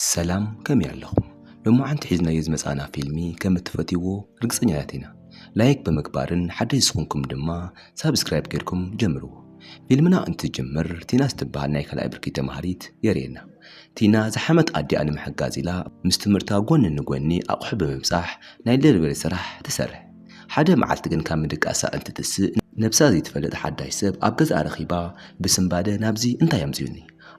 ሰላም ከመይ ኣለኹም ሎማዓንቲ ሒዝናዮ ዝመፃእና ፊልሚ ከም እትፈትይዎ ርግፀኛታት ኢና ላይክ ብምግባርን ሓደሽ ዝኹንኩም ድማ ሳብስክራይብ ገይርኩም ጀምርዎ ፊልምና እንትጅምር ቲና ዝትበሃል ናይ ካልኣይ ብርኪ ተምሃሪት የርእየና ቲና ዝሓመት ኣዲኣ ንምሕጋዝ ኢላ ምስ ትምህርታ ጎኒ ንጎኒ ኣቑሑ ብምብፃሕ ናይ ደሊቨሪ ስራሕ ትሰርሕ ሓደ መዓልቲ ግን ካብ ምድቃሳ እንትትስእ ነብሳ ዘይትፈልጥ ሓዳሽ ሰብ ኣብ ገዝኣ ረኺባ ብስንባደ ናብዚ እንታይ ኣምፂኡኒ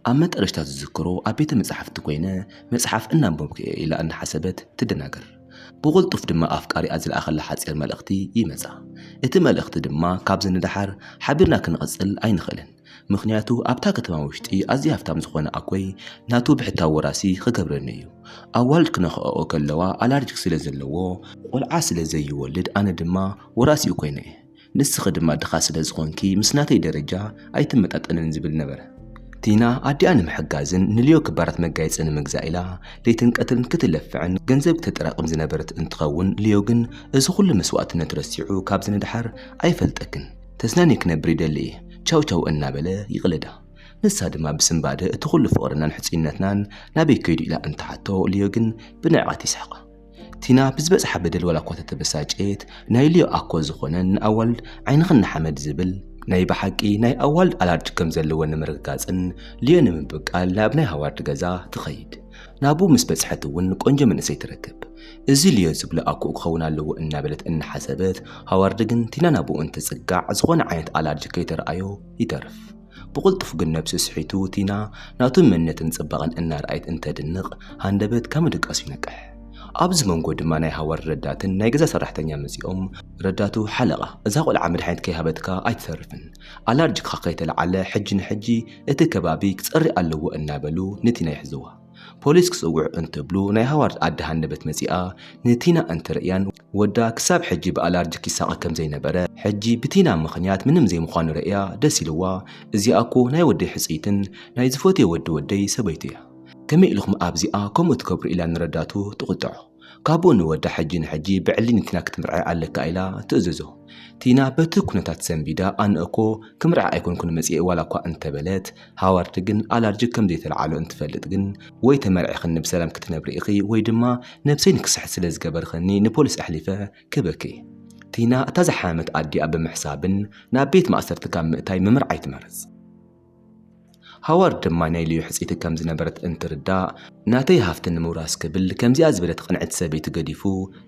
ኣብ መጠረሽታ ዝዝክሮ ኣብ ቤተ መጻሕፍቲ ኮይነ መጽሓፍ እናንበብኩ'የ ኢላ እናሓሰበት ትደናገር። ብቕልጡፍ ድማ ኣፍቃሪኣ ዝለኣኸላ ሓጺር መልእኽቲ ይመጻ። እቲ መልእኽቲ ድማ ካብዚ ንደሓር ሓቢርና ክንቕጽል ኣይንኽእልን ምኽንያቱ ኣብታ ከተማ ውሽጢ ኣዝዩ ሃፍታም ዝኾነ ኣኮይ ናቱ ብሕታዊ ወራሲ ክገብረኒ'ዩ። ኣዋልድ ክነኽኣኦ ከለዋ ኣላርጂክ ስለ ዘለዎ ቆልዓ ስለ ዘይወልድ ኣነ ድማ ወራሲኡ ኮይነ'የ ንስኺ ድማ ድኻ ስለ ዝኾንኪ ምስ ናተይ ደረጃ ኣይትመጣጠንን ዝብል ነበረ። ቲና ኣዲኣ ንምሕጋዝን ንልዮ ክባራት መጋየፂ ንምግዛእ ኢላ ለይትን ቀትርን ክትለፍዕን ገንዘብ ክተጠራቕም ዝነበረት እንትኸውን ልዮ ግን እዚ ኹሉ መስዋእትነት ረሲዑ ካብዚ ንደሓር ኣይፈልጠክን ተዝናንየ ክነብር ይደሊ እየ ቻው ቻው እናበለ ይቕለዳ። ንሳ ድማ ብስንባደ እቲ ኹሉ ፍቕርናን ሕፁይነትናን ናበይ ከይዱ ኢላ እንትሓቶ ልዮ ግን ብንዕቀት ይስሕቓ። ቲና ብዝበጽሓ በደል ዋላ እኳ ተተበሳጨየት ናይ ልዮ ኣኮ ዝኾነን ንኣዋልድ ዓይንኽን ንሓመድ ዝብል ናይ ብሓቂ ናይ ኣዋልድ ኣላርጅ ከም ዘለወን ንምርግጋጽን ልዮ ንምብቃል ናብ ናይ ሃዋርድ ገዛ ትኸይድ። ናብኡ ምስ በጽሐት እውን ቆንጆ መንእሰይ ትረክብ። እዚ ልዮ ዝብሎ ኣኮኡ ክኸውን ኣለዎ እናበለት እናሓሰበት ሃዋርድ ግን ቲና ናብኡ እንትጽጋዕ ዝኾነ ዓይነት ኣላርጅ ከይተርኣዮ ይተርፍ። ብቕልጡፍ ግን ነብሱ ስሒቱ ቲና ናቱ መንነትን ጽባቐን እናርኣየት እንተድንቕ ሃንደበት ካብ ምድቃሱ ይነቅሕ። ኣብዚ መንጎ ድማ ናይ ሃዋርድ ረዳትን ናይ ገዛ ሰራሕተኛ መጺኦም ረዳቱ ሓለቓ እዛ ቆልዓ መድሓኒት ከይሃበትካ ኣይትተርፍን ኣላርጂክኻ ከይተልዓለ ሕጂ ንሕጂ እቲ ከባቢ ክጸሪ ኣለዎ እናበሉ ንቲና ይሕዝዋ። ፖሊስ ክጽውዕ እንትብሉ ናይ ሃዋርድ ኣደ ሃንደበት መጺኣ ንቲና እንትርእያን ወዳ ክሳብ ሕጂ ብኣላርጂክ ይሳቐ ከም ዘይነበረ ሕጂ ብቲና ምኽንያት ምንም ዘይምዃኑ ርእያ ደስ ኢልዋ እዚኣ እኮ ናይ ወደይ ሕጽይትን ናይ ዝፈትዮ ወዲ ወደይ ሰበይቱ እያ ከመይ ኢልኹም ኣብዚኣ ከምኡ ትገብሩ ኢላ ንረዳቱ ትቑጥዖ። ካብኡ ንወዳ ሕጂ ንሕጂ ብዕሊ ንቲና ክትምርዐ ኣለካ ኢላ ትእዝዞ። ቲና በቲ ኩነታት ሰንቢዳ ኣነ'ኮ ክምርዐ ኣይኮንኩን መጺኤ ዋላኳ እንተበለት፣ ሃዋርድ ግን ኣላርጅክ ከምዘይተልዓሎ እንትፈልጥ ግን ወይ ተመርዒኽኒ ብሰላም ክትነብሪ ኢኺ ወይ ድማ ነብሰይ ንክስሕት ስለዝገበርኽኒ ንፖሊስ ኣሕሊፈ ክህበኪ እየ። ቲና እታ ዝሓመመት ኣዲኣ ብምሕሳብን ናብ ቤት ማእሰርቲ ካብ ምእታይ ምምርዓይ ትመርጽ። ሃዋርድ ድማ ናይ ልዩ ሕጽይቲ ከም ዝነበረት እንትርዳእ፣ ናተይ ሃብቲ ንምውራስ ክብል ከምዚኣ ዝበለት ቕንዕቲ ሰበይቲ ገዲፉ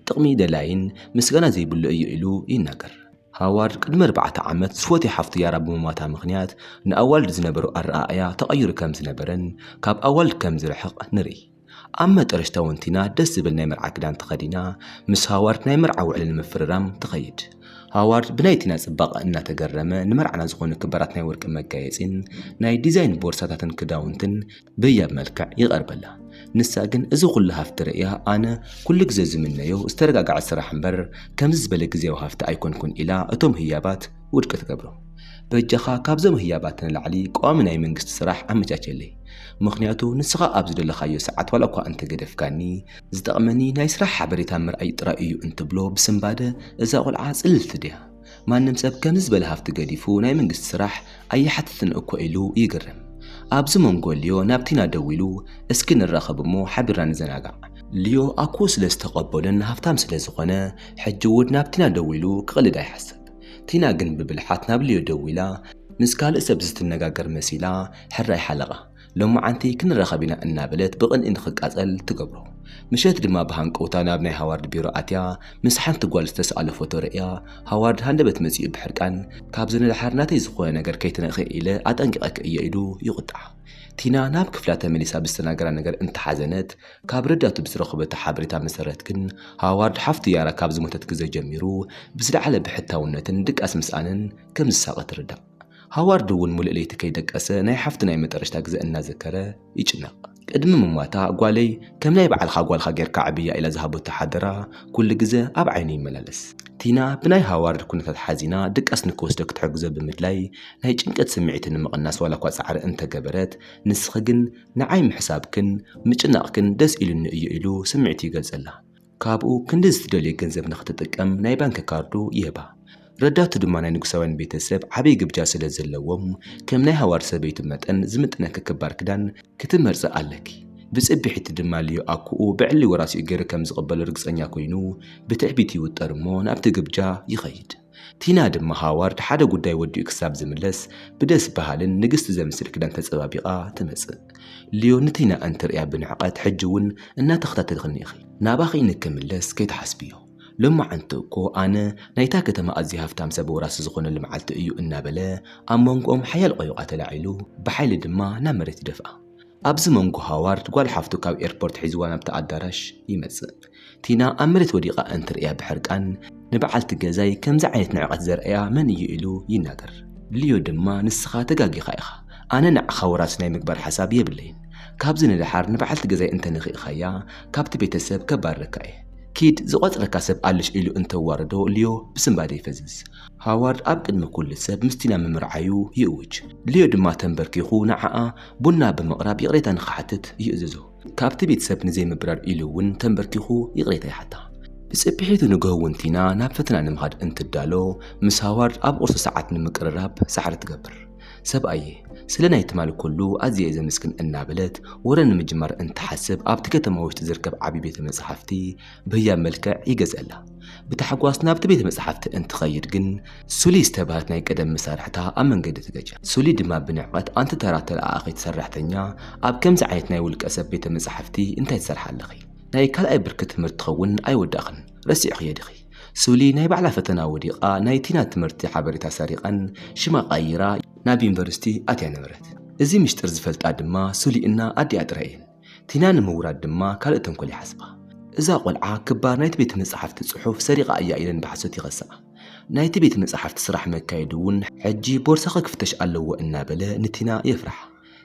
ጥቕሚ ደላይን ምስጋና ዘይብሉ እዩ ኢሉ ይናገር። ሃዋርድ ቅድሚ ኣርባዕተ ዓመት ዝፎትያ ሓፍቱ ያራ ብምሟታ ምኽንያት ንኣዋልድ ዝነበሮ ኣረኣእያ ተቐይሩ ከም ዝነበረን ካብ ኣዋልድ ከም ዝርሕቕ ንርኢ። ኣብ መጠረሽታ እውን ቲና ደስ ዝብል ናይ መርዓ ክዳን ተኸዲና ምስ ሃዋርድ ናይ መርዓ ውዕሊ ንምፍርራም ትኸይድ። ሃዋርድ ብናይ ቲና ጽባቐ እናተገረመ ንመርዓና ዝኾኑ ክበራት ናይ ወርቂ መጋየጺን ናይ ዲዛይን ቦርሳታትን ክዳውንትን ብህያብ መልክዕ ይቐርበላ። ንሳ ግን እዚ ኩሉ ሃፍቲ ርእያ ኣነ ኩሉ ግዜ ዝምነዮ ዝተረጋግዐ ስራሕ እምበር ከምዚ ዝበለ ግዝያዊ ሃፍቲ ኣይኮንኩን ኢላ እቶም ህያባት ውድቂ ትገብሮ። በጃኻ ካብዞም ህያባት ንላዕሊ ቀዋሚ ናይ መንግስቲ ስራሕ ኣመቻቸለይ። ምኽንያቱ ንስኻ ኣብ ዝደለኻዮ ሰዓት ዋላ'ኳ እንተገደፍካኒ፣ ዝጠቕመኒ ናይ ስራሕ ሓበሬታ ምርኣይ ጥራይ እዩ እንትብሎ ብስንባደ እዛ ቖልዓ ጽልልቲ ድያ? ማንም ሰብ ከምዚ ዝበለ ሃፍቲ ገዲፉ ናይ መንግስቲ ስራሕ ኣይሓትትን እኮ ኢሉ ይግረም። ኣብዚ መንጎ ልዮ ናብ ቲና ደዊሉ እስኪ ንራኸብ እሞ ሓቢርና ንዘናጋዕ። ልዮ ኣኮ ስለ ዝተቐበሎን ሃፍታም ስለ ዝኾነ ሕጂ እውን ናብ ቲና ደዊሉ ክቕልድ ኣይሓሰብ። ቲና ግን ብብልሓት ናብ ልዮ ደዊላ ምስ ካልእ ሰብ ዝትነጋገር መሲላ ሕራይ ሓለቓ። ሎማዓንቲ ክንራኸብ ኢና እናበለት ብቕንኢ ንኽቃጸል ትገብሮ። ምሸት ድማ ብሃንቀውታ ናብ ናይ ሃዋርድ ቢሮ ኣትያ ምስ ሓንቲ ጓል ዝተሰኣሎ ፎቶ ርእያ ሃዋርድ ሃንደበት መጺኡ ብሕርቃን ካብዚ ንደሓር ናተይ ዝኾነ ነገር ከይትነኽኢ ኢለ ኣጠንቂቐኪ እየ ኢሉ ይቑጣዓ። ቲና ናብ ክፍላ ተመሊሳ ብዝተናገራ ነገር እንተሓዘነት ካብ ረዳቱ ብዝረኸበቶ ሓበሬታ መሰረት ግን ሃዋርድ ሓፍቱ ያራ ካብ ዝሞተት ግዘ ጀሚሩ ብዝለዓለ ብሕታውነትን ድቃስ ምስኣንን ከም ዝሳቐ ትርዳእ። ሃዋርድ እውን ሙሉእ ለይቲ ከይደቀሰ ናይ ሓፍቱ ናይ መጠረሽታ ግዘ እናዘከረ ይጭነቕ። ቅድሚ ምሟታ ጓለይ ከም ናይ ባዕልኻ ጓልካ ጌርካ ኣዕብያ ኢላ ዝሃበቶ ሓደራ ኩሉ ግዘ ኣብ ዓይኑ ይመላለስ። ቲና ብናይ ሃዋርድ ኩነታት ሓዚና ድቃስ ንክወስዶ ክትሕግዞ ብምድላይ ናይ ጭንቀት ስምዒቱ ንምቕናስ ዋላኳ ፃዕሪ እንተገበረት ንስኺ ግን ንዓይ ምሕሳብክን ምጭናቕክን ደስ ኢሉኒ እዩ ኢሉ ስምዒቱ ይገልጸላ። ካብኡ ክንዲ ዝትደልዮ ገንዘብ ንኽትጥቀም ናይ ባንኪ ካርዱ ይህባ። ረዳቱ ድማ ናይ ንጉሳውያን ቤተ ሰብ ዓቢይ ግብጃ ስለ ዘለዎም ከም ናይ ሃዋርድ ሰበይቱ መጠን ዝምጥነኪ ክባር ክዳን ክትመርጺ ኣለኪ ብጽብሒቲ ድማ ልዮ ኣኩኡ ብዕሊ ወራሲኡ ገይሩ ከም ዝቕበሎ ርግጸኛ ኮይኑ ብትዕቢት ይውጠር እሞ ናብቲ ግብጃ ይኸይድ። ቲና ድማ ሃዋርድ ሓደ ጉዳይ ወዲኡ ክሳብ ዝምለስ ብደስ በሃልን ንግስቲ ዘምስል ክዳን ተጸባቢቓ ትመጽእ። ሊዮ ንቲና እንትርእያ ብንዕቀት ሕጂ እውን እናተኸታተልክኒ ኢኺ። ናባኺ ንክምለስ ከይትሓስብዮ። ሎማዕንቲ እኮ ኣነ ናይታ ከተማ ኣዝዩ ሃፍታም ሰብ ወራሲ ዝኾነሉ መዓልቲ እዩ እናበለ ኣብ መንጎኦም ሓያል ቖይቛ ተላዒሉ ብሓይሊ ድማ ናብ መሬት ይደፍኣ። ኣብዚ መንጎ ሃዋርድ ጓል ሓፍቱ ካብ ኤርፖርት ሒዝዋ ናብቲ ኣዳራሽ ይመጽእ። ቲና ኣብ መሬት ወዲቓ እንትርእያ ብሕርቃን ንበዓልቲ ገዛይ ከምዚ ዓይነት ንዕቀት ዘርእያ መን እዩ ኢሉ ይናገር። ሊዮ ድማ ንስኻ ተጋጊኻ ኢኻ ኣነ ንዓኻ ወራሲ ናይ ምግባር ሓሳብ የብለይን። ካብዚ ንደሓር ንበዓልቲ ገዛይ እንተ ንኺእኻያ ካብቲ ቤተሰብ ከባርረካ እየ። ኪድ ዝቖጽረካ ሰብ ኣለሽ ኢሉ እንተዋርዶ ሊዮ ብስንባደ ይፈዝዝ። ሃዋርድ ኣብ ቅድሚ ኩሉ ሰብ ምስ ቲና ምምርዓዩ ይእውጅ። ሊዮ ድማ ተምበርኪኹ ንዓኣ ቡና ብምቕራብ ይቕሬታ ንኽሓትት ይእዝዞ። ካብቲ ቤት ሰብ ንዘይምብራር ኢሉ እውን ተምበርኪኹ ይቕሬታ ይሓታ። ብጽብሒቱ ንግሆ እውን ቲና ናብ ፈተና ንምኻድ እንትዳሎ ምስ ሃዋርድ ኣብ ቁርሲ ሰዓት ንምቅርራብ ጻዕሪ ትገብር። ሰብኣየይ፣ ስለ ናይ ትማል ኩሉ ኣዝየ'የ ዘምስግን እናበለት ወረ ንምጅማር እንትሓስብ ኣብቲ ከተማ ውሽጢ ዝርከብ ዓቢ ቤተ መጻሕፍቲ በያ መልክዕ ይገዝኣላ። ብታሕጓስ ናብቲ ቤተ መጻሕፍቲ እንትኸይድ ግን ሱሊ ዝተባህለት ናይ ቀደም መሳርሕታ ኣብ መንገዲ ትገጫ። ሱሊ ድማ ብንዕቐት ኣንቲ ተራ ተለኣኣኺት ሰራሕተኛ ኣብ ከምዚ ዓይነት ናይ ውልቀ ሰብ ቤተ መጻሕፍቲ እንታይ ትሰርሓ ኣለኺ? ናይ ካልኣይ ብርኪ ትምህርትኸውን ኣይወዳእኽን ረሲዕኽዮ ዲኺ? ሱሊ ናይ ባዕላ ፈተና ወዲቓ ናይ ቲና ትምህርቲ ሓበሬታ ሰሪቓን ሽማ ቀይራ ናብ ዩኒቨርሲቲ ኣትያ ነበረት። እዚ ምሽጥር ዝፈልጣ ድማ ሱሊ እና ኣዲኣ ጥራይ እየን። ቲና ንምውራድ ድማ ካልእ ተንኮል ይሓስባ። እዛ ቈልዓ ክባር ናይቲ ቤት መጻሕፍቲ ጽሑፍ ሰሪቓ እያ ኢለን ብሓሶት ይኸስኣ። ናይቲ ቤት መጻሕፍቲ ስራሕ መካየዲ እውን ሕጂ ቦርሳኺ ክፍተሽ ኣለዎ እናበለ ንቲና የፍርሓ።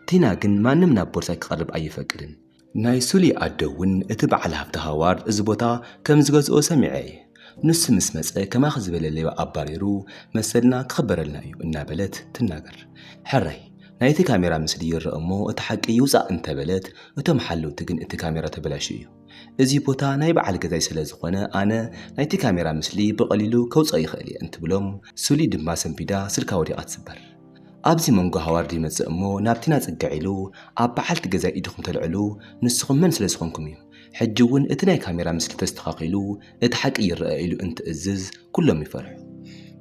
ቲና ግን ማንም ናብ ቦርሳይ ክቐርብ ኣይፈቅድን። ናይ ሱሊ ኣደ እውን እቲ በዓል ሃብቲ ሃዋርድ እዚ ቦታ ከም ዝገዝኦ ሰሚዐ እየ። ንሱ ምስ መጸ ከማኺ ዝበለ ሌባ ኣባሪሩ መሰልና ክኽበረልና እዩ እናበለት ትናገር። ሕራይ ናይቲ ካሜራ ምስሊ ይረኣ እሞ እቲ ሓቂ ይውጻእ እንተበለት እቶም ሓለውቲ ግን እቲ ካሜራ ተበላሽዩ እዩ እዚ ቦታ ናይ በዓል ገዛይ ስለዝኾነ ኣነ ናይቲ ካሜራ ምስሊ ብቐሊሉ ከውጽኦ ይኽእል እየ እንትብሎም ሱሊ ድማ ሰንቢዳ ስልካ ወዲቓ ትስበር። ኣብዚ መንጎ ሃዋርድ ይመጽእ እሞ ናብ ቲና ጽግዕ ኢሉ ኣብ በዓልቲ ገዛይ ኢድኹም ተልዕሉ ንስኹም መን ስለዝኾንኩም እዩ ሕጂ እውን እቲ ናይ ካሜራ ምስሊ ተስተኻኺሉ እቲ ሓቂ ይረኣ ኢሉ እንትእዝዝ ኩሎም ይፈርሑ።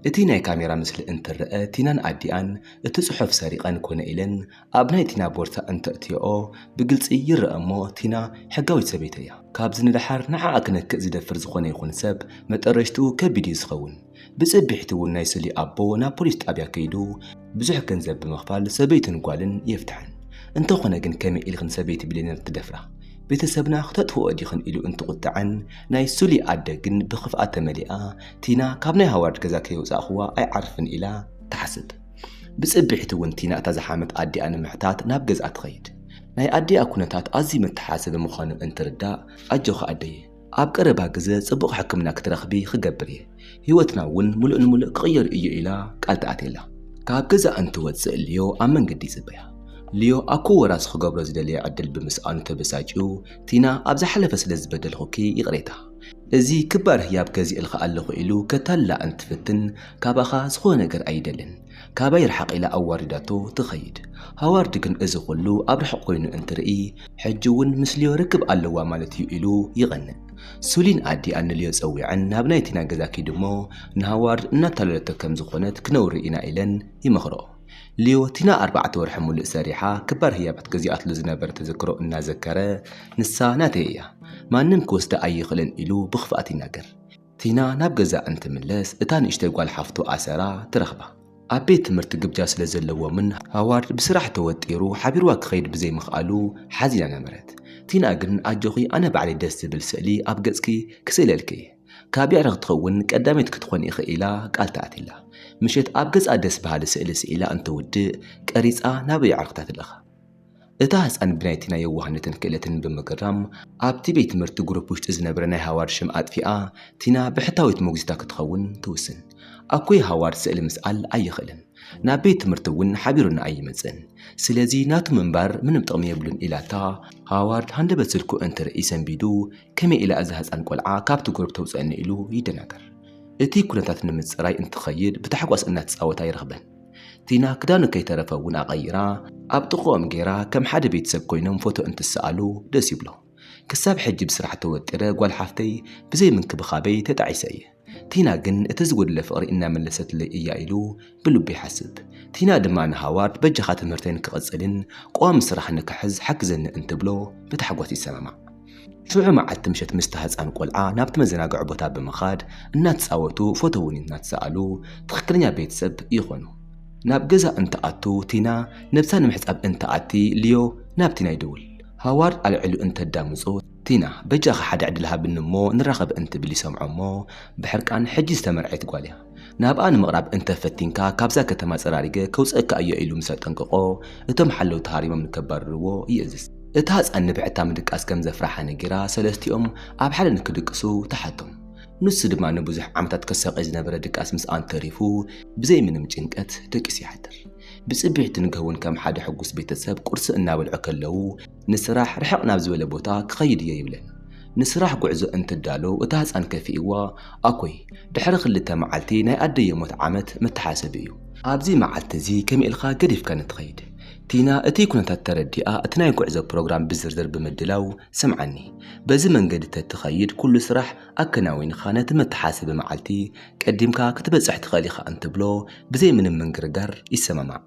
እቲ ናይ ካሜራ ምስሊ እንትረኣ ቲናን ኣዲኣን እቲ ጽሑፍ ሰሪቐን ኮነ ኢለን ኣብ ናይ ቲና ቦርሳ እንተእትየኦ ብግልጺ ይረኣ እሞ ቲና ሕጋዊት ሰበይተይ'ያ። ካብዚ ንደሓር ንዓኣ ክነክእ ዝደፍር ዝኾነ ይኹን ሰብ መጠረሽትኡ ከቢድ እዩ ዝኸውን። ብፅብሒት እውን ናይ ስሊ ኣቦ ናብ ፖሊስ ጣብያ ከይዱ ብዙሕ ገንዘብ ብምኽፋል ሰበይቱን ጓልን የፍትሐን። እንተኾነ ግን ከመይ ኢልኽን ሰበይቲ ብሌነር ትደፍራ? ቤተሰብና ክተጥፍኦኦ ዲኽን ኢሉ እንትቑጠዐን ናይ ስሊ ኣደ ግን ብኽፍኣት ተመሊኣ ቲና ካብ ናይ ሃዋርድ ገዛ ከይወፃእኹዋ ኣይዓርፍን ኢላ ትሓስብ። ብፅብሒት እውን ቲና እታ ዝሓመት ኣዲኣ ንምሕታት ናብ ገዝኣ ትኸይድ። ናይ ኣዲኣ ኩነታት ኣዝዩ መተሓሳሰቢ ምዃኑ እንትርዳእ ኣጆኺ ኣደየ! ኣብ ቀረባ ግዘ ፅቡቕ ሕክምና ክትረኽቢ ክገብር እየ፣ ህይወትና እውን ሙሉእ ንሙሉእ ክቕየር እዩ ኢላ ቃል ተኣትየላ። ካብ ገዛ እንትወፅእ ሊዮ ኣብ መንገዲ ይፅበያ። ሊዮ ኣብ ክወራስ ክገብሮ ዝደለየ ዕድል ብምስኣኑ ተበሳጭዩ፣ ቲና ኣብ ዝሓለፈ ስለ ዝበደልኹኪ ይቕሬታ፣ እዚ ክባር ህያብ ገዚእልኺ ኣለኹ ኢሉ ከታልላ እንትፍትን፣ ካባኻ ዝኾነ ነገር ኣይደልን፣ ካባይ ርሓቕ ኢላ ኣዋሪዳቶ ትኸይድ። ሃዋርድ ግን እዚ ኹሉ ኣብ ርሑቕ ኮይኑ እንትርኢ ሕጂ እውን ምስ ልዮ ርክብ ኣለዋ ማለት እዩ ኢሉ ይቐንእ። ሱሊን ኣዲኣ ንልዮ ጸዊዐን ናብ ናይ ቲና ገዛ ኪድ እሞ ንሃዋርድ እናታለለቶ ከም ዝኾነት ክነውሪ ኢና ኢለን ይመኽርኦ። ልዮ ቲና ኣርባዕተ ወርሒ ሙሉእ ሰሪሓ ክባር ህያባት ገዚኣትሉ ዝነበረ ተዘክሮ እናዘከረ ንሳ ናተይ እያ ማንም ክወስዳ ኣይኽእልን ኢሉ ብኽፍኣት ይናገር። ቲና ናብ ገዛ እንትምለስ እታ ንእሽተይ ጓል ሓፍቱ ኣሰራ ትረኽባ። ኣብ ቤት ትምህርቲ ግብጃ ስለ ዘለዎምን ሃዋርድ ብስራሕ ተወጢሩ ሓቢርዋ ክኸይድ ብዘይምኽኣሉ ሓዚና ነበረት። ቲና ግን ኣጆኺ ኣነ ባዕለይ ደስ ዝብል ስእሊ ኣብ ገጽኪ ክስእለልኪ እየ። ካብ የዕርኽቲ ክውን ቀዳመይቲ ክትኮኒ ኢኺ ኢላ ቃል ተኣትላ። ምሸት ኣብ ገዝኣ ደስ በሃሊ ስእሊ ስኢላ እንትውድእ ቀሪጻ ናብ የዕርኽታ ትልእኻ። እታ ህጻን ብናይቲ ናይ የዋህነትን ክእለትን ብምግራም ኣብቲ ቤት ትምህርቲ ግሩፕ ውሽጢ ዝነበረ ናይ ሃዋርድ ሽም ኣጥፊኣ ቲና ብሕታዊት ሞግዚታ ክትኸውን ትውስን። ኣኮይ ሃዋርድ ስእሊ ምስኣል ኣይኽእልን ናብ ቤት ትምህርቲ እውን ሓቢሩኒ ኣይመጽእን ስለዚ ናቱ ምንባር ምንም ጥቕሚ የብሉን ኢላታ ሃዋርድ ሃንደበት ስልኩ እንትርኢ ሰንቢዱ ከመይ ኢላ እዛ ህጻን ቆልዓ ካብቲ ግሩፕ ተውጽኣኒ ኢሉ ይደናገር። እቲ ኩነታት ንምጽራይ እንትኸይድ ብታሕጓስ እናተጻወታ ይረኽበን። ቲና ክዳኑ ከይተረፈ እውን ኣቐይራ ኣብ ጥቕኦም ገይራ ከም ሓደ ቤተሰብ ኮይኖም ፎቶ እንትሰኣሉ ደስ ይብሎ። ክሳብ ሕጂ ብስራሕ ተወጢረ ጓል ሓፍተይ ብዘይ ምንክብኻበይ ተጣዒሰ እየ። ቲና ግን እቲ ዝጎደለ ፍቕሪ እናመለሰትለይ እያ ኢሉ ብልቡ ይሓስብ። ቲና ድማ ንሃዋርድ በጃኻ ትምህርተይ ንክቕጽልን ቀዋሚ ስራሕ ንክሕዝ ሓግዘኒ እንትብሎ ብታሕጓስ ይሰማማዕ። ሽዑ መዓልቲ ምሸት ምስታ ህጻን ቆልዓ ናብቲ መዘናግዒ ቦታ ብምኻድ እናተጻወቱ ፎቶ እውን እናተሰኣሉ ትኽክለኛ ቤተሰብ ይኾኑ። ናብ ገዛ እንትኣቱ ቲና ነብሳ ንምሕጻብ እንትኣቲ ሊዮ ናብ ቲና ይድውል። ሃዋርድ ኣልዒሉ እንተዳምጾ ቲና በጃኻ ሓደ ዕድል ሃብኒ እሞ ንራኸብ እንትብል ይሰምዖ እሞ ብሕርቃን ሕጂ ዝተመርዐየት ጓል እያ። ናብኣ ንምቕራብ እንተ ፈቲንካ ካብዛ ከተማ ጸራሪገ ከውጽኣካ እየ ኢሉ ምስ ኣጠንቀቖ፣ እቶም ሓለውቲ ሃሪሞም ንከባርርዎ ይእዝዝ። እታ ህጻን ንብሕታ ምድቃስ ከም ዘፍርሓ ነጊራ ሰለስቲኦም ኣብ ሓደ ንክድቅሱ ትሓቶም። ንሱ ድማ ንብዙሕ ዓመታት ከሳቕይ ዝነበረ ድቃስ ምስኣን ተሪፉ ብዘይ ምንም ጭንቀት ደቂሱ ይሓድር። ብጽብሕቲ ንግሆ'ውን ከም ሓደ ሕጉስ ቤተሰብ ቁርሲ እናበልዑ ከለዉ ንስራሕ ርሕቕ ናብ ዝበለ ቦታ ክኸይድ እየ ይብለን። ንስራሕ ጉዕዞ እንትዳሎ እታ ህጻን ከፊእዋ፣ ኣኮይ ድሕሪ ክልተ መዓልቲ ናይ ኣደይ የሞት ዓመት መተሓሰቢ እዩ። ኣብዚ መዓልቲ እዚ ከመይ ኢልካ ገዲፍካኒ ትኸይድ? ቲና እቲ ኩነታት ተረዲኣ እቲ ናይ ጉዕዞ ፕሮግራም ብዝርዝር ብምድላው ስምዓኒ። በዚ መንገዲ ተትኸይድ ኩሉ ስራሕ ኣከናዊንካ ነቲ መተሓሰቢ መዓልቲ ቀዲምካ ክትበጽሕ ትኽእል ኢኻ እንትብሎ ብዘይ ምንም ምንግርጋር ይሰማማዕ።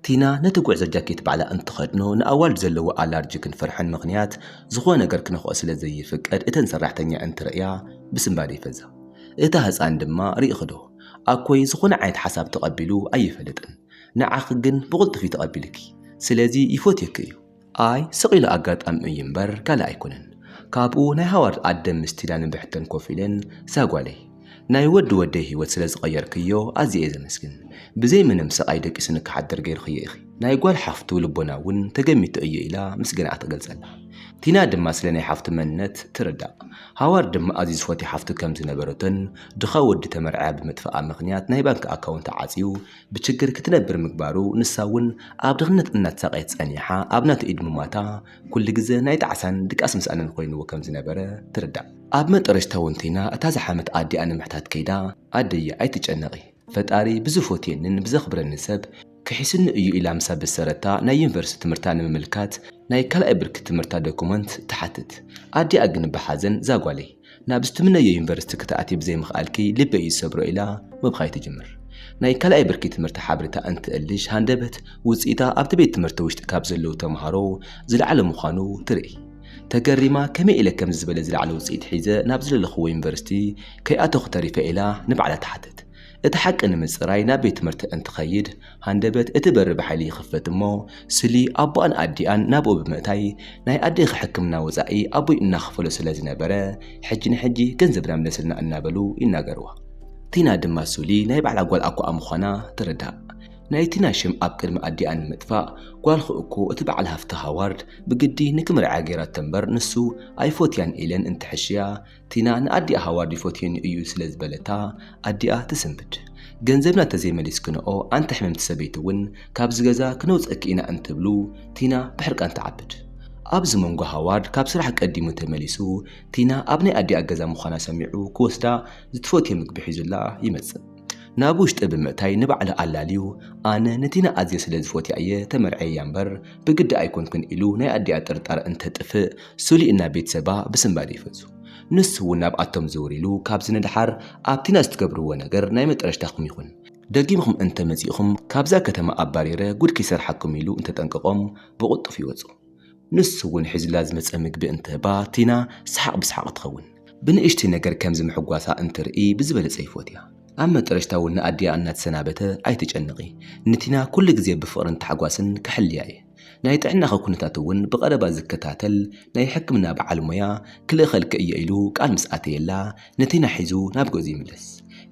ቲና ነቲ ጉዕዞ ጃኬት ባዕላ እንትኸድኖ ንኣዋልድ ዘለዎ ኣላርጂክን ፍርሕን ምኽንያት ዝኾነ ነገር ክነኽኦ ስለ ዘይፍቀድ እተን ሰራሕተኛ እንትርእያ ብስንባደ ይፈዛ። እታ ህጻን ድማ ርኢኺዶ ኣኮይ ዝኾነ ዓይነት ሓሳብ ተቐቢሉ ኣይፈልጥን ንዓኺ ግን ብቕልጡፍ እዩ ተቐቢሉኪ ስለዚ ይፎትየኪ እዩ። ኣይ ስቕ ኢሉ ኣጋጣሚ እዩ እምበር ካልእ ኣይኮነን ካብኡ ናይ ሃዋርድ ኣደም ምስ ቲዳ ንብሕተን ኮፍ ኢለን እዛ ጓለይ ናይ ወዲ ወደይ ሂወት ስለ ዝቐየርክዮ ኣዝየ እየ ዘመስግን ብዘይ ምንም ስቓይ ደቂሱኒ ክሓድር ገይርክዮ ኢኺ ናይ ጓል ሓፍቱ ልቦና እውን ተገሚቱ እዩ ኢላ ምስገናኣ ትገልጸላ ቲና ድማ ስለ ናይ ሓፍቱ መንነት ትርዳእ ሃዋርድ ድማ ኣዝዩ ዝፈትዮ ሓፍቱ ከም ዝነበረቶን ድኻ ወዲ ተመርዕያ ብምጥፍኣ ምኽንያት ናይ ባንኪ ኣካውንታ ዓጽዩ ብችግር ክትነብር ምግባሩ ንሳ እውን ኣብ ድኽነት እናተሳቐየት ጸኒሓ ኣብ ናቱ ኢድ ምሟታ ኩሉ ግዘ ናይ ጣዕሳን ድቃስ ምስኣንን ኮይንዎ ከም ዝነበረ ትርዳእ። ኣብ መጠረሽታ ወንቲና እታ ዝሓመት ኣዲኣ ንምሕታት ከይዳ ኣደየ ኣይትጨነቒ ፈጣሪ ብዝፎትየኒን ብዘኽብረኒን ሰብ ክሒሱኒ እዩ ኢላ ምስ ኣበሰረታ ናይ ዩኒቨርስቲ ትምህርታ ንምምልካት ናይ ካልኣይ ብርኪ ትምህርታ ደኩመንት ትሓትት። ኣዲኣ ግን ብሓዘን ዛጓለይ! ናብ ዝትምነዮ ዩኒቨርሲቲ ክትኣትዪ ብዘይምኽኣልኪ ልበይ እዩ ዝሰብሮ ኢላ ምብኻይ ትጅምር። ናይ ካልኣይ ብርኪ ትምህርቲ ሓበሬታ እንትእልሽ ሃንደበት ውፅኢታ ኣብቲ ቤት ትምህርቲ ውሽጢ ካብ ዘለዉ ተምሃሮ ዝለዓለ ምዃኑ ትርኢ። ተገሪማ ከመይ ኢለ ከምዚ ዝበለ ዝለዓለ ውፅኢት ሒዘ ናብ ዝደለኽዎ ዩኒቨርሲቲ ከይኣተኹ ተሪፈ ኢላ ንባዕላ ትሓትት። እቲ ሓቂ ንምጽራይ ናብ ቤት ትምህርቲ እንትኸይድ፣ ሃንደበት እቲ በሪ ብሓይሊ ይኽፈት እሞ፣ ስሊ ኣቦኣን ኣዲኣን ናብኡ ብምእታይ፣ ናይ ኣዴኺ ሕክምና ወጻኢ ኣቦይ እናኸፈሎ ስለ ዝነበረ፣ ሕጂ ንሕጂ ገንዘብና ምለስልና እናበሉ ይናገርዋ። ቲና ድማ ሱሊ ናይ ባዕላ ጓል ኣኮኣ ምዃና ትርዳእ። ናይ ቲና ሽም ኣብ ቅድሚ ኣዲኣ ንምጥፋእ፣ ጓልኹ እኮ እቲ በዓል ሃፍቲ ሃዋርድ ብግዲ ንክምርዐያ ገይራቶ እምበር ንሱ ኣይፎትያን ኢለን እንትሕሽያ፣ ቲና ንኣዲኣ ሃዋርድ ይፎትየኒ እዩ ስለ ዝበለታ ኣዲኣ ትስንብድ። ገንዘብና እንተዘይመሊስክንኦ ኣንቲ ሕምምቲ ሰበይቲ እውን ካብዚ ገዛ ክነውፀኪ ኢና እንትብሉ ቲና ብሕርቃን ትዓብድ። ኣብዚ መንጎ ሃዋርድ ካብ ስራሕ ቀዲሙ ተመሊሱ ቲና ኣብ ናይ ኣዲኣ ገዛ ምዃና ሰሚዑ ክወስዳ ዝትፎትዮ ምግቢ ሒዙላ ይመፅእ። ናብ ውሽጢ ብምእታይ ንባዕሉ ኣላልዩ ኣነ ንቲና ኣዝየ ስለ ዝፎትያ እየ ተመርዕየያ እምበር ብግዲ ኣይኮንኩን ኢሉ ናይ ኣዲኣ ጥርጣረ እንተጥፍእ ስሉይ እና ቤተሰባ ብስንባደ ይፈዙ። ንሱ እውን ናብኣቶም ዝውር ኢሉ ካብዚ ንደሓር ኣብ ቲና ዝትገብርዎ ነገር ናይ መጠረሽታኹም ይኹን፣ ደጊምኹም እንተመፂእኹም ካብዛ ከተማ ኣባሪረ ጉድ ከይሰርሓኩም ኢሉ እንተጠንቀቖም ብቕልጡፍ ይወፁ። ንሱ እውን ሒዙላ ዝመጸ ምግቢ እንተ በታቲና ሰሓቕ ብሰሓቕ ትኸውን። ብንእሽተይ ነገር ከምዚ ምሕጓሳ እንትርኢ ብዝበለጸ ይፎትያ። ኣብ መጠረሽታ እውን ንኣዲኣ እናተሰናበተ ኣይትጨነቒ፣ ንቲና ኩሉ ግዜ ብፍቕርን ታሕጓስን ክሕልያ እየ። ናይ ጥዕናኺ ኩነታት እውን ብቐረባ ዝከታተል ናይ ሕክምና በዓል ሞያ ክልእኸልኪ እየ ኢሉ ቃል ምስ ኣተየላ ንቲና ሒዙ ናብ ገዝኡ ይምለስ።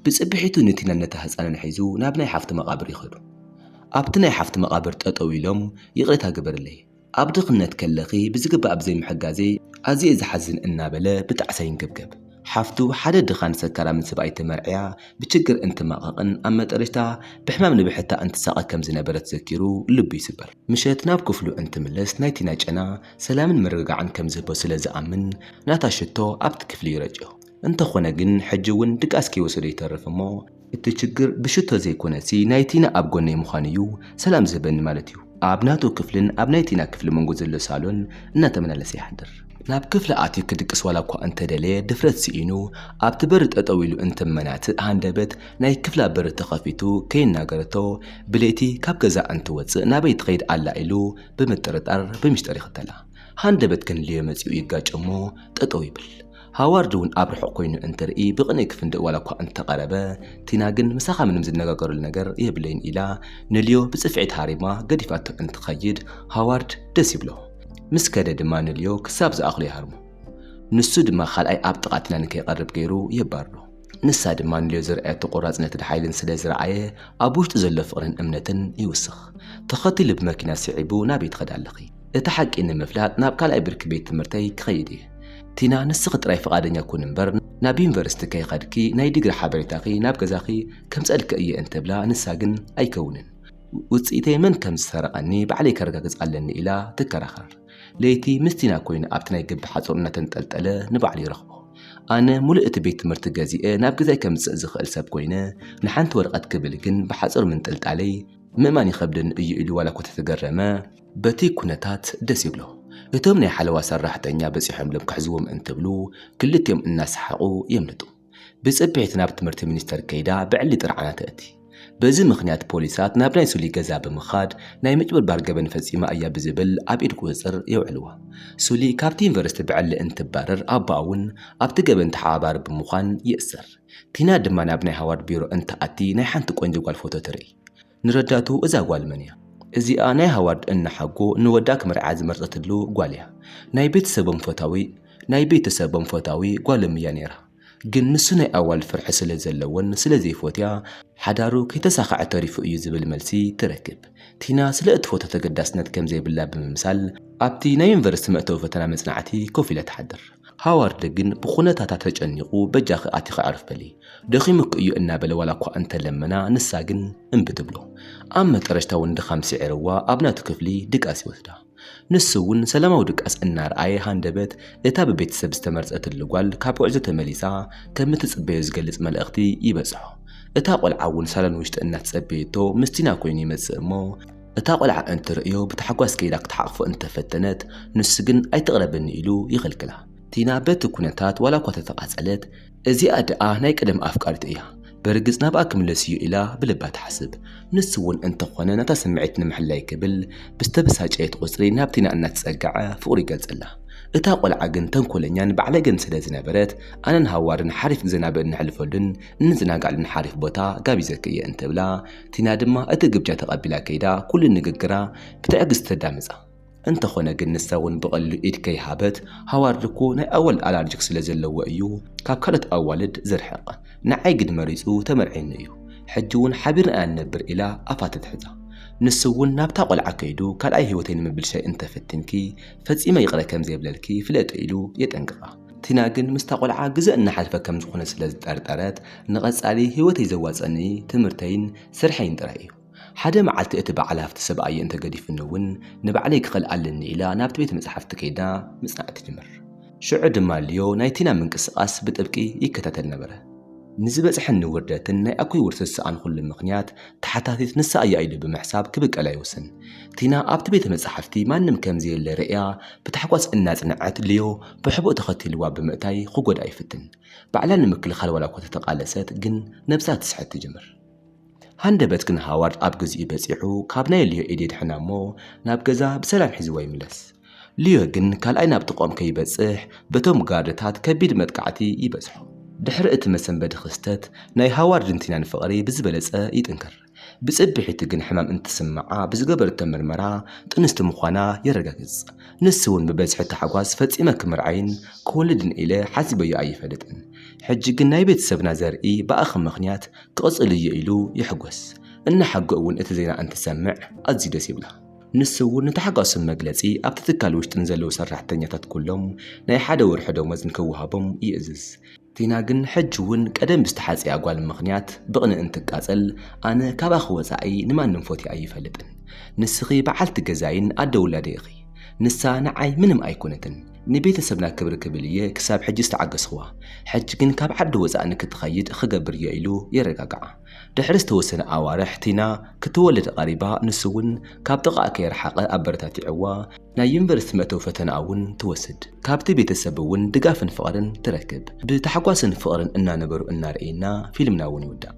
ብጽብሒቱ ንቲናን ነታ ህጻንን ሒዙ ናብ ናይ ሓፍቱ መቓብር ይኸዱ። ኣብቲ ናይ ሓፍቲ መቓብር ጠጠው ኢሎም ይቕሬታ ግበርለይ ኣብ ድኽነት ከለኺ ብዝግባእ ብዘይምሕጋዘይ ኣዝየ'የ ዝሓዝን እናበለ ብጣዕሳ ይንገብገብ። ሓፍቱ ሓደ ድኻን ሰካራምን ሰብኣይ ተመርዕያ ብችግር እንትማቐቕን ኣብ መጠረሽታ ብሕማም ንብሕታ እንትሳቐ ከም ዝነበረት ዘኪሩ ልቡ ይስበር። ምሸት ናብ ክፍሉ እንትምለስ ናይ ቲና ጨና ሰላምን ምርግጋዕን ከም ዝህቦ ስለ ዝኣምን ናታ ሽቶ ኣብቲ ክፍሊ ይረጭዮ። እንተኾነ ግን ሕጂ'ውን ድቃስ ከይወሰዶ ይተርፍ እሞ፣ እቲ ችግር ብሽቶ ዘይኮነሲ ናይ ቲና ኣብ ጎነይ ምዃኑ እዩ ሰላም ዝህበኒ ማለት እዩ። ኣብ ናቱ ክፍልን ኣብ ናይ ቲና ክፍሊ መንጎ ዘሎ ሳሎን እናተመላለሰ ይሓድር። ናብ ክፍላ ኣትዩ ክድቅስ ዋላ እኳ እንተደለየ ድፍረት ስኢኑ ኣብቲ በሪ ጠጠው ኢሉ እንትመናትእ ሃንደበት ናይ ክፍላ በሪ ተኸፊቱ ከይናገረቶ ብለይቲ ካብ ገዛ እንትወፅእ ናበይ ትኸይድ ኣላ ኢሉ ብምጥርጣር ብሚስጥር ይኽተላ። ሃንደበት ክንልዮ መፂኡ ይጋጮ እሞ ጠጠው ይብል። ሃዋርድ እውን ኣብ ርሑቕ ኮይኑ እንትርኢ ብቕንኢ ክፍንድእ ዋላ እኳ እንተቐረበ፣ ቲና ግን ምሳኻ ምንም ዝነጋገረሉ ነገር የብለይን ኢላ ንልዮ ብጽፍዒት ሃሪማ ገዲፋቶ እንትኸይድ ሃዋርድ ደስ ይብሎ። ምስ ከደ ድማ ንልዮ ክሳብ ዝኣኽሎ ይሃርሞ። ንሱ ድማ ካልኣይ ኣብ ጥቓ ቲና ንከይቐርብ ገይሩ የባርሮ። ንሳ ድማ ንልዮ ዘርኣየቶ ቆራጽነትን ሓይልን ስለ ዝረኣየ ኣብ ውሽጡ ዘሎ ፍቕርን እምነትን ይውስኽ። ተኸቲሉ ብመኪና ስዒቡ ናበይ ትኸዲ ኣለኺ? እቲ ሓቂ ንምፍላጥ ናብ ካልኣይ ብርኪ ቤት ትምህርተይ ክኸይድ እየ። ቲና ንስኺ ጥራይ ፍቓደኛ ኩኒ እምበር ናብ ዩኒቨርሲቲ ከይኸድኪ ናይ ዲግሪ ሓበሬታኺ ናብ ገዛኺ ከምጽኣልኪ እየ እንትብላ ንሳ ግን ኣይከውንን ውጽኢተይ መን ከም ዝሰረቐኒ ባዕለይ ከረጋግጽ ኣለኒ ኢላ ትከራኸር። ለይቲ ምስ ቲና ኰይኑ ኣብቲ ናይ ግቢ ሓጹር እናተንጠልጠለ ንባዕሉ ይረኽቦ። ኣነ ምሉእ እቲ ቤት ትምህርቲ ገዚኤ ናብ ገዛይ ከምጽእ ዝኽእል ሰብ ኰይነ፣ ንሓንቲ ወረቐት ክብል ግን ብሓጹር ምንጥልጣለይ ምእማን ይኸብደኒ እዩ ኢሉ ዋላ'ኳ እንተተገረመ፣ በቲ ኵነታት ደስ ይብሎ። እቶም ናይ ሓለዋ ሰራሕተኛ በጺሖምሎም ክሕዝዎም እንትብሉ ክልቲኦም እናሰሓቑ የምልጡ። ብጽፔት ናብ ትምህርቲ ሚኒስተር ከይዳ ብዕሊ ጥርዓና ተእቲ። በዚ ምኽንያት ፖሊሳት ናብ ናይ ሱሊ ገዛ ብምኻድ ናይ ምጭብርባር ገበን ፈጺማ እያ ብዝብል ኣብ ኢድ ቁጽጽር የውዕልዋ። ሱሊ ካብቲ ዩኒቨርሲቲ ብዕሊ እንትባረር ኣቦኣ እውን ኣብቲ ገበን ተሓባባሪ ብምዃን ይእሰር። ቲና ድማ ናብ ናይ ሃዋርድ ቢሮ እንትኣቲ ናይ ሓንቲ ቆንጆ ጓል ፎቶ ትርእይ። ንረዳእቱ እዛ ጓል መን እያ? እዚኣ ናይ ሃዋርድ እና ሓጎ ንወዳ ክምርዓ ዝመርጸትሉ ጓል እያ ናይ ቤተሰቦም ፈታዊ ናይ ቤተሰቦም ፈታዊ ጓሎም እያ ነይራ ግን ንሱ ናይ ኣዋልድ ፍርሒ ስለ ዘለዎን ስለ ዘይፎትያ ሓዳሩ ከይተሳኸዐ ተሪፉ እዩ ዝብል መልሲ ትረክብ ቲና ስለ እትፎቶ ተገዳስነት ከም ዘይብላ ብምምሳል ኣብቲ ናይ ዩኒቨርሲቲ መእተዊ ፈተና መጽናዕቲ ኮፍ ኢላ ትሓድር ሃዋርድ ግን ብኹነታታ ተጨኒቑ በጃኺ ኣቲኺ ኣዕርፍ በሊ፣ ደኺሙኪ እዩ እናበለ ዋላ እኳ እንተ ለመና ንሳ ግን እምቢ ትብሎ። ኣብ መጠረሽታ እውን ድኻም ስዒርዋ ኣብ ናቱ ክፍሊ ድቃስ ይወስዳ። ንሱ እውን ሰላማዊ ድቃስ እናርኣየ ሃንደበት እታ ብቤተሰብ ዝተመርጸትሉ ጓል ካብ ጉዕዞ ተመሊሳ ከም እትጽበዮ ዝገልጽ መልእኽቲ ይበጽሖ። እታ ቆልዓ እውን ሳሎን ውሽጢ እናተጸበየቶ ምስቲና ኮይኑ ይመጽእ እሞ፣ እታ ቈልዓ እንትርእዮ ብታሕጓስ ከይዳ ክትሓቕፎ እንተፈተነት፣ ንሱ ግን ኣይትቕረብኒ ኢሉ ይኽልክላ። ቲና በቲ ኵነታት ዋላ'ኳ ተተቓጸለት፣ እዚኣ ደኣ ናይ ቀደም ኣፍቃሪቱ እያ፣ ብርግጽ ናብኣ ክምለስ'ዩ ኢላ ብልባ ትሓስብ። ንሱ'ውን እንተዀነ ነታ ስምዒት ንምሕላይ ክብል ብዝተበሳጨየት ቍጽሪ ናብ ቲና እናተጸግዐ ፍቕሩ ይገልጸላ። እታ ቈልዓ ግን ተንኰለኛን ባዕለገን ስለ ዝነበረት፣ ኣነን ሃዋርድን ሓሪፍ ግዜ ናብእነሕልፈሉን እንዘናግዓሉን ሓሪፍ ቦታ ጋቢዘኪ እየ እንተብላ፣ ቲና ድማ እቲ ግብጃ ተቐቢላ ከይዳ ኩሉ ንግግራ ብትዕግስቲ ተዳምጻ። እንተኾነ ግን ንሳ እውን ብቐሊሉ ኢድ ከይሃበት ሃዋርድ እኮ ናይ ኣዋልድ ኣላርጅክ ስለ ዘለዎ እዩ ካብ ካልኦት ኣዋልድ ዝርሕቕ፣ ንዓይ ግን መሪጹ ተመርዕዩኒ እዩ፣ ሕጂ እውን ሓቢርና ኢና ንነብር ኢላ ኣፋ ተትሕዛ። ንሱ እውን ናብታ ቆልዓ ከይዱ ካልኣይ ህይወተይ ንምብልሻይ እንተ ፈቲንኪ ፈጺመ ይቕረ ከም ዘይብለልኪ ፍለጢ ኢሉ የጠንቅቓ። ቲና ግን ምስታ ቆልዓ ግዘ እናሓልፈ ከም ዝኾነ ስለ ዝጠርጠረት ንቐፃሊ ህይወተይ ዘዋፀኒ ትምህርተይን ስርሐይን ጥራይ እዩ። ሓደ መዓልቲ እቲ በዓል ሃፍቲ ሰብኣየ እንተገዲፉኒ እውን ንባዕለይ ክኽእል ኣለኒ ኢላ ናብቲ ቤተ መፃሕፍቲ ከይዳ ምፅናዕ ትጅምር። ሽዑ ድማ ሊዮ ናይ ቲና ምንቅስቓስ ብጥብቂ ይከታተል ነበረ። ንዝበፅሐኒ ውርደትን ናይ ኣኩይ ውርስ ዝሰኣንኹሉ ምኽንያት ተሓታቲት ንሳ እያ ኢሉ ብምሕሳብ ክብቀላ ይውስን። ቲና ኣብቲ ቤተ መፃሕፍቲ ማንም ከም ዘየለ ርእያ ብታሕጓስ እናፅነዐት ሊዮ ብሕቡእ ተኸቲልዋ ብምእታይ ክጎድኣ ይፍትን። ባዕላ ንምክልኻል ዋላኳ ተተቓለሰት ግን ነብሳ ትስሕት ትጅምር። ሃንደበት ግን ሃዋርድ ኣብ ግዚኡ በጺሑ ካብ ናይ ልዮ ኢድ የድሕና እሞ ናብ ገዛ ብሰላም ሒዝዋ ይምለስ። ልዮ ግን ካልኣይ ናብ ጥቕኦም ከይበጽሕ በቶም ጋርድታት ከቢድ መጥቃዕቲ ይበጽሖ። ድሕሪ እቲ መሰንበዲ ክስተት ናይ ሃዋርድን ቲናን ፍቕሪ ብዝበለጸ ይጥንክር። ብጽብሒቱ ግን ሕማም እንትስምዓ ብዝገበረቶ ምርመራ ጥንስቲ ምዃና የረጋግጽ። ንሱ'ውን ብበዝሒ ታሕጓስ ፈጺመ ክምርዓይን ክወልድን ኢለ ሓሲበዮ ኣይፈልጥን። ሕጂ ግን ናይ ቤተሰብና ዘርኢ ብኣኺ ምኽንያት ክቕጽል'ዩ ኢሉ ይሕጎስ። እነሓጎ'ውን እቲ ዜና እንትሰምዕ ኣዝዩ ደስ ይብላ። ንሱ'ውን ንታሕጓሱ መግለጺ ኣብቲ ትካል ውሽጢ ንዘለዉ ሰራሕተኛታት ኩሎም ናይ ሓደ ወርሒ ደሞዝ ንክወሃቦም ይእዝዝ። ቲና ግን ሕጂ እውን ቀደም ብዝተሓጽያ ጓል ምኽንያት ብቕንእ እንትቃጸል ኣነ ካባኺ ወጻኢ ንማንም ፎትየ ኣይፈልጥን ንስኺ በዓልቲ ገዛይን ኣደ ውላደይ ኢኺ ንሳ ንዓይ ምንም ኣይኮነትን ንቤተሰብና ክብሪ ክብል እየ ክሳብ ሕጂ ዝተዓገስኽዋ ሕጂ ግን ካብ ዓዲ ወጻእ ንክትኸይድ ኽገብር እየ ኢሉ የረጋግዓ ድሕሪ ዝተወሰነ ኣዋርሕ ቲና ክትወልድ ቐሪባ ንሱ እውን ካብ ጥቓኣ ከይረሓቐ ኣበረታቲዕዋ ናይ ዩኒቨርሲቲ መእተዊ ፈተናኣ እውን ትወስድ። ካብቲ ቤተሰብ እውን ድጋፍን ፍቕርን ትረክብ። ብታሕጓስን ፍቕርን እናነበሩ እናረኣይና ፊልምና እውን ይውዳእ።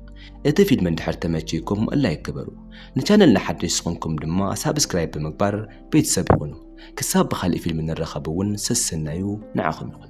እቲ ፊልም እንድሕር ተመችይኩም ላይክ ግበሩ። ንቻነልና ሓደሽቲ ዝኾንኩም ድማ ሳብስክራይብ ብምግባር ቤተሰብ ይኹኑ። ክሳብ ብኻሊእ ፊልም ንራኸብ እውን ሰሰናዩ ንዓኹም ይኹን።